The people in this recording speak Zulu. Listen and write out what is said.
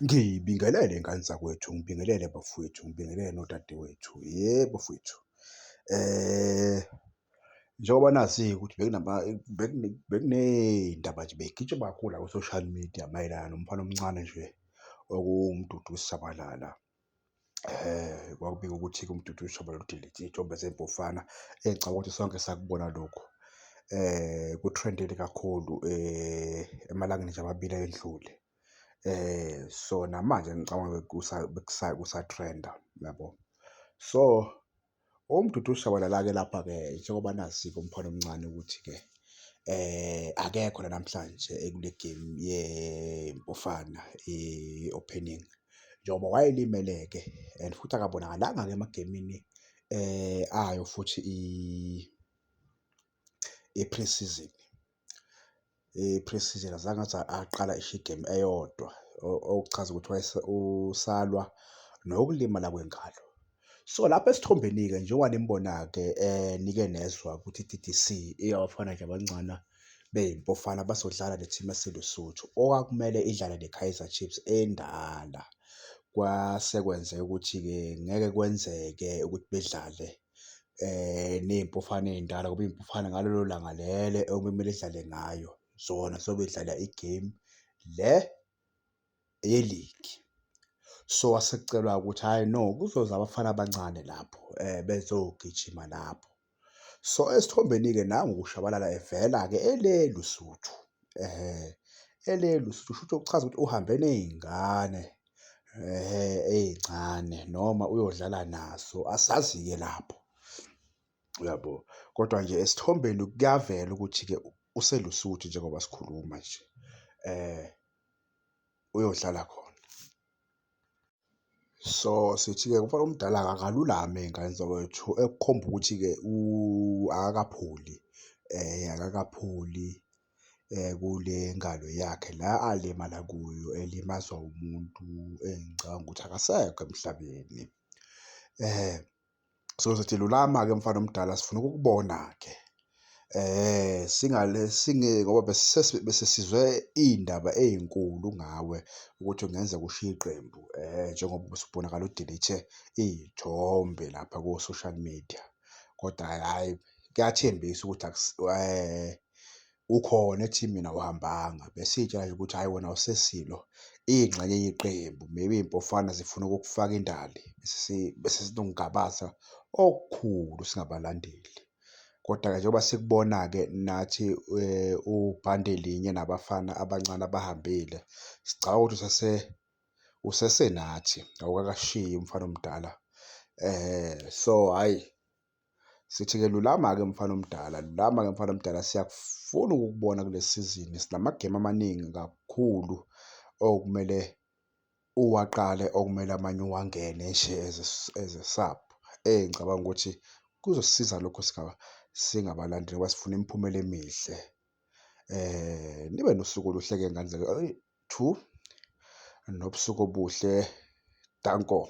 Ngibingelele ngane zakwethu, ngibingelele bafwethu, ngibingelele nodadewethu, ye bafwethu. Njengoba nazi-ke ukuthi bekuney'ndaba nje bey'gitshwa kakhulu la ko-social media mayelana nomfana omncane nje okuwuMduduzi Shabalala. um kwakubika ukuthi-ke umdudu uyishoba lodilithi, iy'thombe zey'mpofana ngicabanga ukuthi sonke sakubona lokhu. Um ku-trend-ele kakhulu emalangeni nje amabili ayedlule. So, namanje ngicabanga ukuthi kusa-trend-a, uyabo? So. Umdudu ushabalala-ke lapha-ke njengoba nazi-ke umfana omncane ukuthi-ke akekho la namhlanje ekule gemu yeMpofana i-opening njengoba wayelimele-ke and futhi akabonakalanga-ke emagemini ayo futhi . i-pre-season. I-pre-season azange aze aqala esho igemu eyodwa okuchaza ukuthi usalwa nokulimala kwengalo. So, lapha esithombeni-ke njengoba nimbona-ke nike nezwa ukuthi i-T_T_C eyaBafana nje Abancane beyiMpofana bazodlala ne-team yaseLesotho okwakumele idlale ne-Kaizer Chiefs endala. Kwase kwenzeka ukuthi-ke ngeke kwenzeke ukuthi bedlale ney'mpofana ey'ndala ngoba iy'mpofana ngalelo langa lelo okumele zidlale ngayo zona zobe zidlala i-game le yeligi. So, asekucelwa ukuthi hhayi no kuzoza abafana abancane lapho bezogijima lapho. So, esithombeni-ke nangu uShabalala evela-ke ele Lusuthu, ele Lusuthu, kushuthi okuchaza ukuthi uhambe ney'ngane ey'ncane noma uyodlala naso asazi-ke lapho, uyabo? Kodwa nje esithombeni kuyavela ukuthi-ke useLusuthu njengoba sikhuluma nje uyodlala khona. So, sithi-ke umfana omdala akalulame ngane zakwethu ekukhomba ukuthi-ke akakapholi akakapholi. kule ngalo yakhe la alimala kuyo elimazwa umuntu engicabanga ukuthi akasekho emhlabeni. Sizothi lulama-ke mfana omdala sifuna ukukubona-ke ngoba besesizwe iy'ndaba ey'nkulu ngawe ukuthi kungenzeka ushiye iqembu njengoba usubonakala udilishe iy'thombe lapha ko-social media, kodwa hhayi kuyathembisa ukuthi . ukhona ethi mina awuhambanga besitsha nje ukuthi hhayi wena awusesilo ingxenye yeqembu maybe iy'mpofana zifuna ukukufaka indali bese sinomgabaza okukhulu singabalandeli. Kodwa-ke njengoba sikubona-ke nathi ubhande linye nabafana abancane abahambile sicabanga ukuthi usase usesenathi awukakashiyi umfana omdala so hhayi Sithi-ke lulama-ke mfana omdala, lulama-ke mfana omdala, siyakufuna ukukubona kule sizini. Sinamagemu amaningi kakhulu okumele uwaqale, okumele amanye uwangene nje as a, as a sub. Eyi ngicabanga ukuthi kuzosisiza lokho singabalandeli ngoba sifuna imiphumela emihle. Nibe nosuku oluhle-ke ngane zami . Two, nobusuku obuhle. Danko.